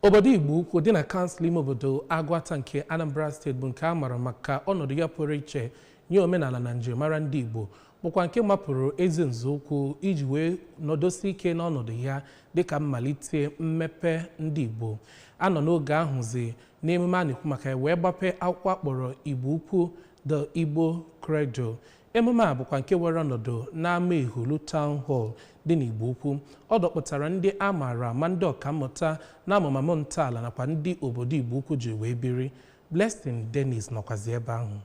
Obodo Igbo Ukwu dị na kansụl ime obodo Agụata nke Anambra steeti bụ nke a mara maka ọnọdụ ya pụrụ iche nye omenala na njirimara ndị Igbo bụkwa nke mapụrụ ezi nzọụkwụ iji wee nọdosi ike n'ọnọdụ ya dịka mmalite mmepe ndị Igbo a nọ n'oge ahụzi n'emume a na-ekwu maka ya wee gbape akwụkwọ a kpọrọ Igbo Ukwu The Igbo Cradle Emume a bụkwa nke were ọnọdụ n'Amaehulu Town Hall dị n'Igbo Ukwu. Ọ dọkpụtara ndị a maara ama ndị ọkammụta n'amụmamụ ntọala nakwa ndị obodo Igbo Ukwu ji wee biri. Blessing Dennis nọkwazi ebe ahụ.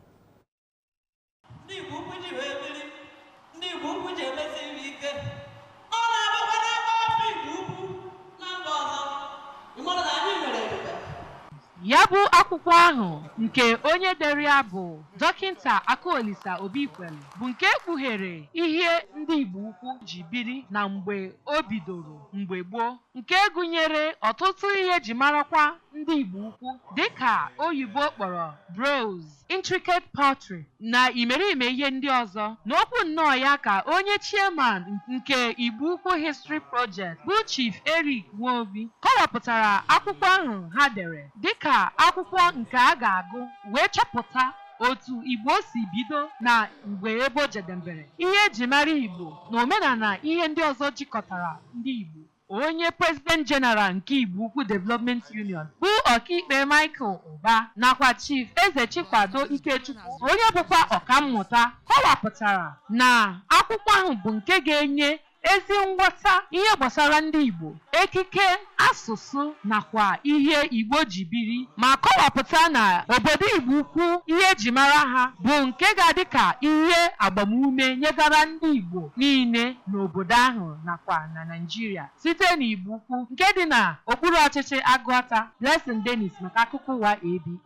Ndị Igbo Ukwu ji wee biri, ndị Igbo Ukwu ji emesi nri ike. Ya bụ akwụkwọ ahụ nke onye dere ya bụ Dọkịnta Akụolisa Obikwelu bụ nke kpughere ihe ndị Igbo Ukwu ji biri na mgbe o bidoro mgbe gboo nke gụnyere ọtụtụ ihe e ji marakwa ndị Igbo Ukwu dịka oyibo kpọrọ bronze intricate pottery, na imerime ihe ndị ọzọ. N'okwu nnọọ ya ka onye Chairman nke Igbo Ukwu History Project, bụ Chief Eric Nwobi, kọwapụtara akwụkwọ ahụ ha dere dịka akwụkwọ nke a ga-agụ wee chọpụta otu Igbo si bido na mgbe ebe o jedembere, ihe e ji mara Igbo na omenala ihe ndị ọzọ jikọtara ndị Igbo. onye President General nke Igbo Ukwu Development Union bụ Ọkaikpe Michael Ụba nakwa Chief Eze Chikwado Ikechukwu onye bụkwa ọkammụta kọwapụtara na akwụkwọ ahụ bụ nke ga-enye ezi nghọta ihe gbasara ndị Igbo ekike asụsụ nakwa ihe Igbo ji biri ma kọwapụta na obodo Igbo ukwu ihe e ji mara ha bụ nke ga-adị ka ihe agbamume nyegara ndị Igbo niile n'obodo ahụ nakwa na Naijiria site n'Igbo Ukwu nke dị na okpuru ọchịchị Agụata. Blessing Dennis maka akụkọ ụwa ABS.